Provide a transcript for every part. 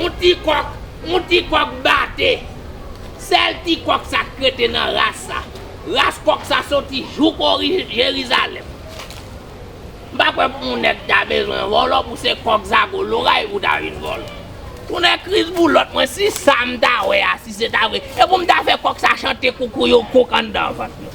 On ti kòk, on ti kòk bate. Sèl ti kòk sa k rete nan ras sa. Ras kòk sa soti jouk Jerizalèm. M pa kwè on nèg ta bezwen vòlò pou se kòk zago loray pou ta vin vòlò. Tonnè kriz pou lòt mwen si sa m ta wè a si se ta vre e pou m ta fè kòk sa chante koukouyouk kouk anndan vant mwen.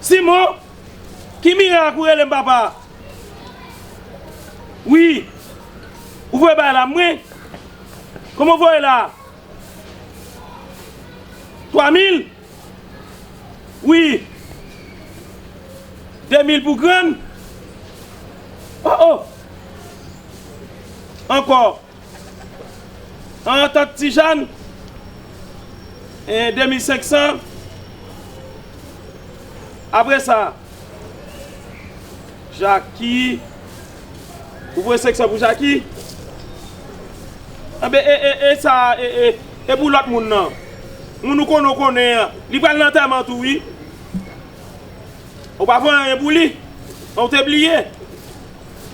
Simon, ki mirak ou rele m papa a? Wi, ou voye bagay la mwen? Konbyen w voye la a? Twa mil? Wi. De mil pou grann? O o! Ankò. An antant Ti Jàn, 2500, apre sa, Jaki, ou voye 500 pou Jaki, enben e, e, e sa a, e, e, e pou lòt moun nan, moun ou konnen ou konnen an, li pral nan antèman tou wi, ou pa voye anyen pou li, ou te bliye.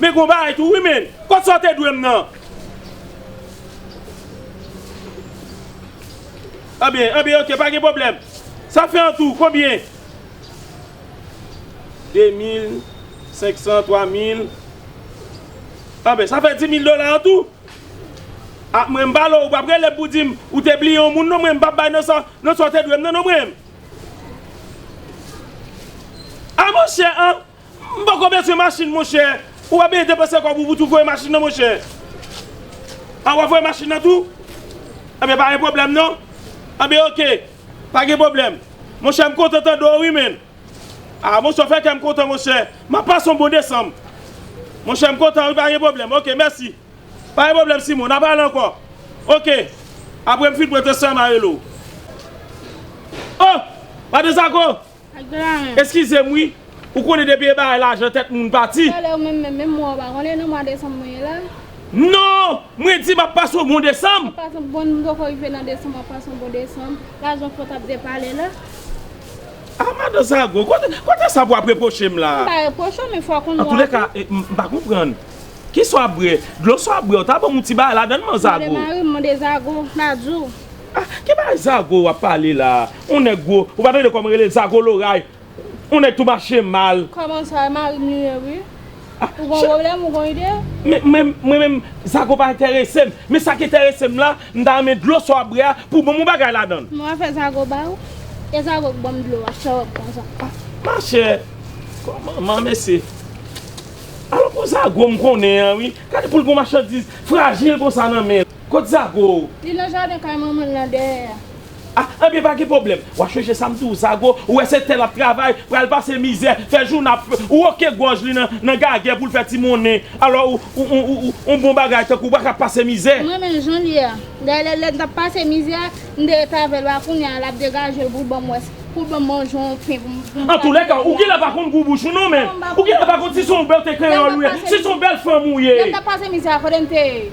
Men gon bagay tou wi men. Kot sa w te dwe m nan. Anbyen anbyen ok pa gen pwoblèm. Sa fè an tou konbyen? 2 mil 500 3 mil Anbyen sa fè 10 mil dola an tou? A mwen m pale w ou pap rele m pou di m ou te bliye yon moun non mwen m pap bay nan sa w te dwe m nan non mwen. A monchè an M poko bezwen machin monchè. Ou pa bezwen depanse kòb ou pou tou voye machin nan monchè. A wap voye machin nan tou? Ebyen pa gen pwoblèm non. Ebyen ok. Pa gen pwoblèm. Monchè m kontan tande w wi menn. A monchè w fè kè m kontan monchè. M ap pase yon bon desanm. Monchè m kontan wi pa gen pwoblèm. Ok mèsi. Pa gen pwoblèm Simon. N ap pale ankò. Ok. Apre m fin pran transfè m a rele w. Oh! Madan Zago! Eskizem wi Ou konnen depi e bagay lajan tèt moun pati. Talè ou menm menm menm mwa ou pa konnen nan mwa desanm mwen ye la. Non! Mwen di map pase yon bon desanm. Map pase yon bon m poko rive nan desanm map pase yon bon desanm. Lajan fò tap de pale la. Ah madan sa gou. Kote sa pou ap repwoche m la. M pa repwoche w men fò w konn mwa ou. Antoulèka m pa konprann. Ki sa w ap bwè? Dlo sa w ap bwè ou ta banm yon ti bagay ladann man zago. Mande mari m mande zago la di w. Ah ki bagay zago wap pale la on nèg gwo ou pa tande kòman rele zago loray on nèg tou mache mal. Kòman sa e marim li ye wi ou gon pwoblèm ou gon ide. Men mwen menm zago pa entèresem men sa ki entèresem la m ta renmen dlo sa wap bwè a pou banm on bagay ladann. Bon afè zago ba ou e zago k banm dlo a sa wap pran sa. Machè kòman man mesye alon pou zago m konnen an wi gade poul gon machandiz frajil konsa nan menl. Kot zago? Li nan jaden kay manmanl nan dèyè a. Ah ebyen pa gen pwoblèm wap chèche sam diw zago ou wè se tè lap travay pral pase mizè fè jou nan ap ou ok gòj li nan gagè poul fè ti monnen alò ou bon bagay tankou bak ap pase mizè. M renmen jan l ye a. Dayè lè m t ap pase mizè a, m te ret avè l a kounye a l ap degaje l pou l ban m wè si pou l ban m manje yon pen pou m pou m Antoulèka ou genlè pa konn gou bouch ou non menn. Ou genlè pa konn si s on bèlte kreyòl ou ye, si s on bèl fanm ou ye. Lè m t ap pase mizè a kote m te ye?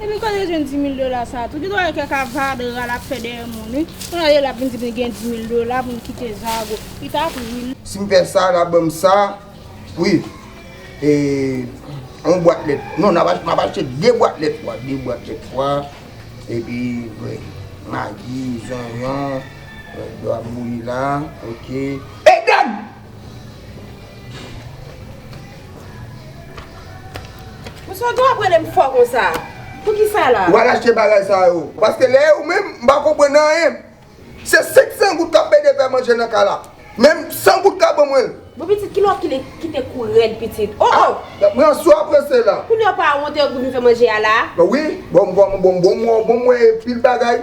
Epi kote yo jwenn dimil dola sa tou. Gen dwa gen kèk avadra lap fè dèyè moun wi. Kounye a yo lap vin di li gen dimil dola pou li kite zago. Li tap ri. Sim fè sa nap banm sa wi e yon bwat lèt non map achte 2 bwat lèt pwa 2 bwat lèt pwa epi magi zonyon lèt yo ap bouyi la ok. Msye Odon ap rele m fò konsa pou kisa la? Ou al achte bagay sa yo. Paske lè ou menm m pa konprann anyen. Se 500 goud kap ede fè manje nan kay la. Menm 100 goud ka ban mwen l. Bon pitit kilè w kite kou rèd pitit. Oh oh! Pran swa prese la. Kounye w pa wonte goud m fè manje a la? Wi, bon m wè bon m wè pil bagay.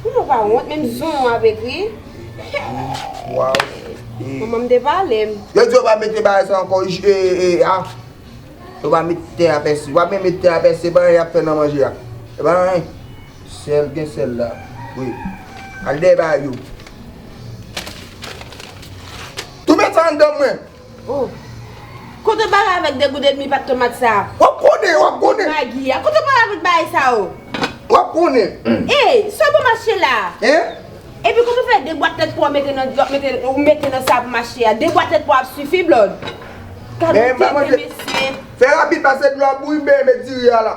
Ou nou pa wont menm zon ou ap ekri. Manman m te pale m. Yo di yo pa mete bagay sa ankò a. Yo pa met te a pèse. Yo pa menm met te a pèse. Epa anyen y ap fè nan manje a. Epa anyen. Sèl gen sèl la. Wi. Al dèy bagay yo. Tou met sa anndan mwen. Oh Kote w pale avèk de goud et demi pat tomat sa. Wap konnen wap konnen. Ak magi a. Kote w pale avèk bagay sa yo. Wap konnen. Ey sa w bon mache la. Hein. Epi kote w fè de bwat tèt po wap mete nan wap mete ou mete nan sa pou mache a. De bwat tèt po ap sifi blòd. Gad yon tenten mesye. Fè rapid pase dlo a bouyi m benyen met diri a la.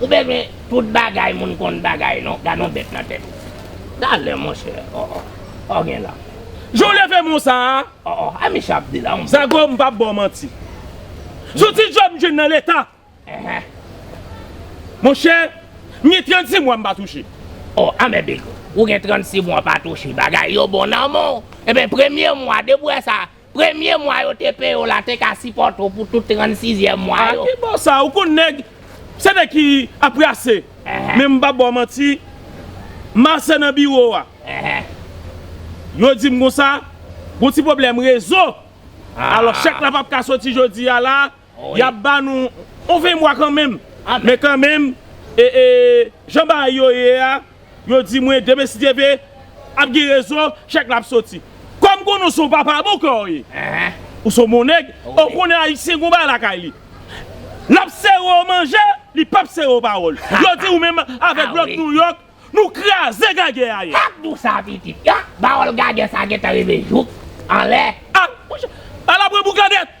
Ou bezwen tout bagay moun konn bagay non gadon bèt nan tèt ou. Talè monchè oh oh oh gen la. Jan w leve mo sa a. Oh oh a Micha ap di la on. Zago m pap ba w manti. Sou ti djòb m jwenn nan leta. Eeh. Monchè m gen 36 mwa m pa touche. Oh a mèbig ou gen 36 mwa pa touche bagay yo bon nan men w. Eben premye mwa depi w wè sa Premye mwa yo te peye w la te ka sipòte w pou tout 36 zyèm mwa yo. Ah ki bo sa ou konn nèg se nèg ki ap rase men m pap ba w manti master nan biwo a yo di m konsa gon ti pwoblèm rezo alò chèk la pap ka soti jodi a la Yap ba nou yon 20 mwa kanmenm. Men kanmenm jan bagay yo ye a, yo di mwen demen si Dye ve ap gen rezon, chèk la ap soti. Kòm m konnen w se yon papa bon kè w ye, ou se yon bon nèg, e w konnen ayisyen gen yon bagay lakay li. Lap sere w manje, li pap sere w pawòl. Yo di ou menm avèk blòk Nouyòk, nou kraze gagè a yè. Pap di w sa pitit. Pawòl gagè sa gentan rive jouk anlè. A la pwen pou gagè!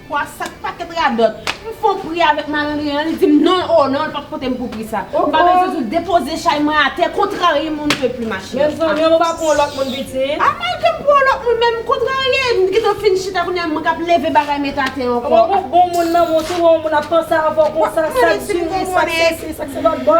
Pwa sa t paket radòt. M fon pri avèk malandren an li di m non oo non li pa t pote m pou pri sa. M pa bezwen sou l depoze chay mwen atè kontrarye m on ne peut plus ma chérie. Mezanmi an m pa pou on lòt moun pitit. A malgre m pou on lòt moun men m kontrarye m gentan fin chita kounye a mwen k ap leve bagay met atè ankò. Mwen wè w bon moun nan men w tou wè on moun ap panse avè w konsa sak diri sak sesi sak se lòt bò.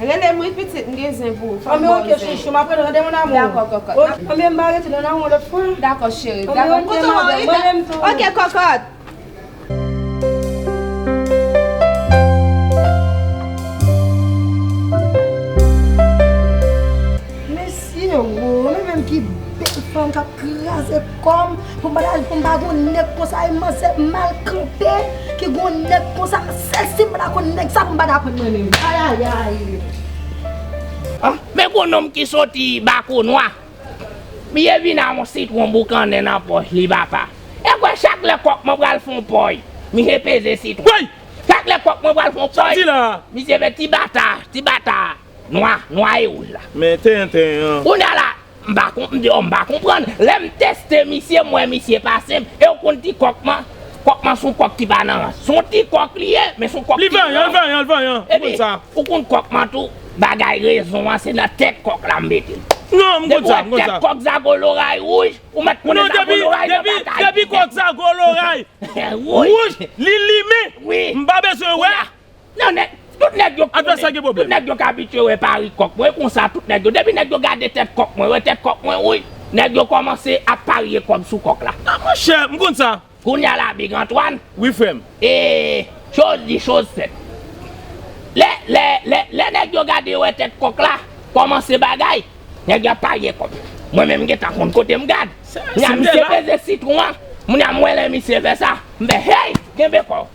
Relem wi pitit m gen zen pou ou fem baw zen an. Dako kokot. Dako cheri. Ok kokot. Kom pou m pa ta pou m pa gon nèg konsa e manzè mal kanpe ki gon nèg konsa sèl si m pa ta konn nèg sa pou m pa ta pran nan men l ayayayy. Men gwo nonm ki soti bakonwa. Biyè vin a yon sitwon boukannen nan pòch li papa. E kwè chak lè kòk mwen pral fon pòy. Misye peze sitwon. Chak lè kòk mwen pral fon pòy. Misye fè ti bata, ti bata. Nwa, nwa e wouj la. Men tenten an. Kounya la, m pa konp, m di oh m pa konprann. Lè m teste misye, m wè misye pa senp. E w konn ti kòk man? Kòk man son kòk ki pa nan rans. Son ti kòk li ye, men son kòk ki. Li vanyan, li vanyan, li vanyan. Ou konn sa. Epi, ou konn kòk man tou, bagay rezon an se nan tèt kòk la m mete l. Non, m konn sa, m konn sa. Depi w wè tèt kòk zago loray wouj, ou mèt konnen zago loray nan pa ka. Depi kòk zago loray wouj, li limen, m pa bezwen wè. Non nèg, tout nèg yo konnen, tout nèg yo k abitye wè pari kòk mwen, e konsa tout nèg yo, depi nèg yo gade tèt kòk mwen, wè tèt kòk mwen wouyy, nèg yo kòmanse ap parye kòb sou kòk la. A monchè, m konn sa. Kounya la Big Antoine. Wi frè m. E, choz di choz fèt. Lè, lè, lè, lè nèg yo gade wè tèt kòk la, kòmanse bagay, nèg yo ap parye kòb. Mwen menm m gen tan konn kote m gad. Kounya misye peze sitwon an, kounya m wè lè misye fè sa, m fè hey, kenbe kò w.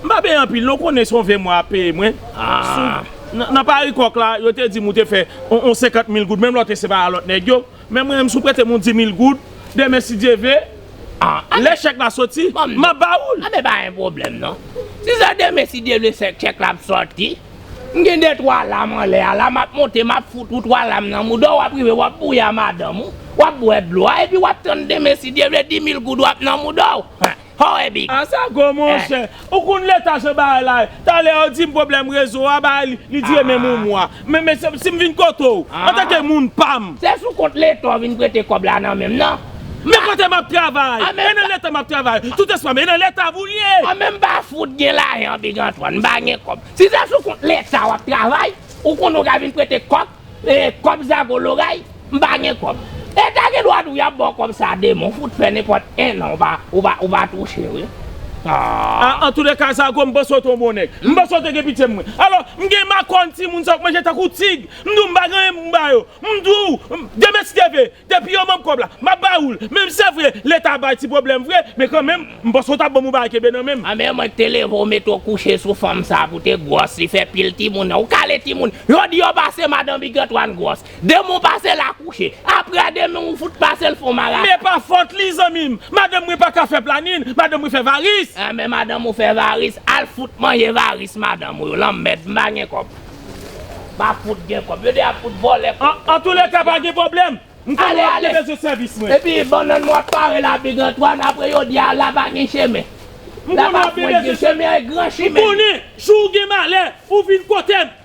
M pa benyen anpil non ou konnen son 20 mwa yap peye mwen sou nan pari kòk la yo te di m ou te fè yon 50 mil goud menm lè w te separe a lòt nèg yo men mwen menm si w prete m yon 10 mil goud demen si Dye vle lè chèk la soti map ba ou l. Anben pa gen pwoblèm non si se demen si Dye vle chèk la ap soti m gen 2 twa lam anlè a la map monte map fout ou twa lam nan mouda w wap rive wap bouyi a madanm ou wap bwè dlo a epi wap tann demen si Dye vle 10 mil goud ou ap nan mouda w. Hoè big. A sa gou monchè. Ou konn leta jan bagay la ye. Talè yo dim pwoblèm rezo a bagay li dire menm yon mwa. Men mesye si m vin kote w antanke moun pa m. Se sou kont leta w vin prete kòb la nan men m nan. Men kote m ap travay. E nan leta m ap travay. Tout eswa m e nan leta pou l ye. An men m pa fout gen lajan big Antwàn. M pa gen kòb. Si se sou kont leta w ap travay ou konnen w ka vin prete kòb. Kòb zago loray m pa gen kòb. E ta gen dwa tou yap baw kòb sa demon fout fè nenpòt 1 an ou pa touche wi aww. Antoulèka zago m panse w te yon bon nèg. M panse w te gen pitye pou mwen. Alò m gen makòn timoun sa yo k manje tankou tig. M di w m pa gen anyen pou m ba yo. M di w, demen ti depe. Depi yo banm kob la map ba oul menm se vre leta bay ti problem vre men kan menm m panse ou tap banm ou bagay kenbe nan menm. Anmyee mwen te leve ou mete ou kouche sou fanm sa pou te gwòs li fè pil timoun nan ou kale timoun yo di yo pase madan big Antoine gwòs demen ou pase la kouche aprè demen ou fout pase l fon marasa. Men pa fòt li zanmi m. Madanm mwen paka fè planin, madanm mwen fè varis. Anmyee madanm ou fè varis, al fout manje varis madanm ou yo, lanmèd m pa gen kòb. Pa fout gen kòb. Yo de ap fout vòlè kòb. An an toulèka pa gen pwoblèm. M konnen wap gen bezwen sèvis mwen. Epi bannann mwen ap pare la Big Antoine apre yo di a la pa gen chemen. M La konnen pa wap gen pwent gen bezwen sèvis. chemen an e gran M chimen. konnen jou ou gen malè ou vin kote m.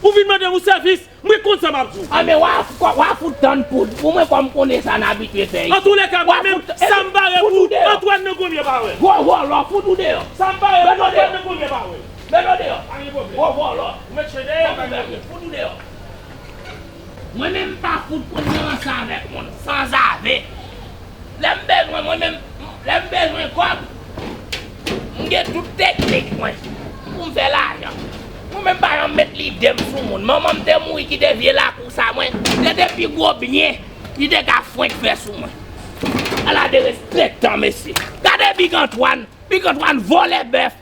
Ou vin mande m yon sèvis. Mwen konn sa map di w. An men wa wa fout tann poud pou mwen kòm m konnen sa n abitye fè An isi. toulèka mwen Wa menm fout sa m epi pare fout pou ou deyò. Antwàn nan Gonyè pa wè. Gwo vòlò fout ou deyò. Sa m pare pou Antwàn nan Gonyè pa wè. Met yo deyò pa gen pwoblem. Gwo vòlò. Ou met chen deyò pa gen pwoblem. Fout ou deyò. Mwen menm m pa fout konn nan ranse avèk moun sanzave. Lè m bezwen mwen menm lè m bezwen kòb m gen tout teknik mwen pou m fè lajan. Mwen menm m pa janm met lide m sou moun. Manman m te mouri kite vye lakou sa mwen. Se te pi gwo byen li te ka fwenk fè sou mwen. Ala derespektan mesye. Gade Big Antwan. Big Antwan vòlè bèf.